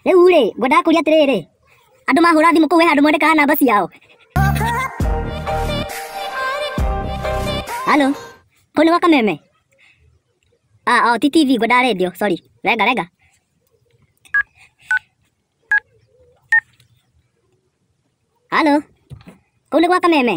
rĩu rĩ ngwendaga kũria atĩrĩrĩ andũ mahũra thimũ kũu we handũ mwandĩkaga namba ciao halo kũu nĩ gwa kameme ah, oh, ti tv ngwendaga redio sorry renga renga halo kũu nĩ gwa kameme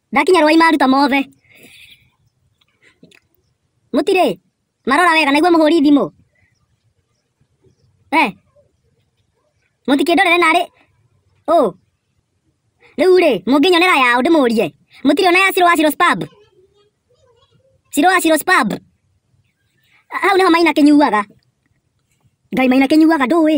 Ndakinya rwai maruta mothe. Mũtirĩ? Marora wega naigua mũhũri thimũ. Eh. Mũtikĩndorere narĩ. Ũ. Rĩu rĩ, mũngĩnyonera yaũ ndĩmũrie. Mũtirĩ ona ya Ciro wa Ciro's Pub? Ciro wa Ciro's Pub? Hau nĩho maina kĩnyuaga. Ngai maina kĩnyuaga ndũĩ.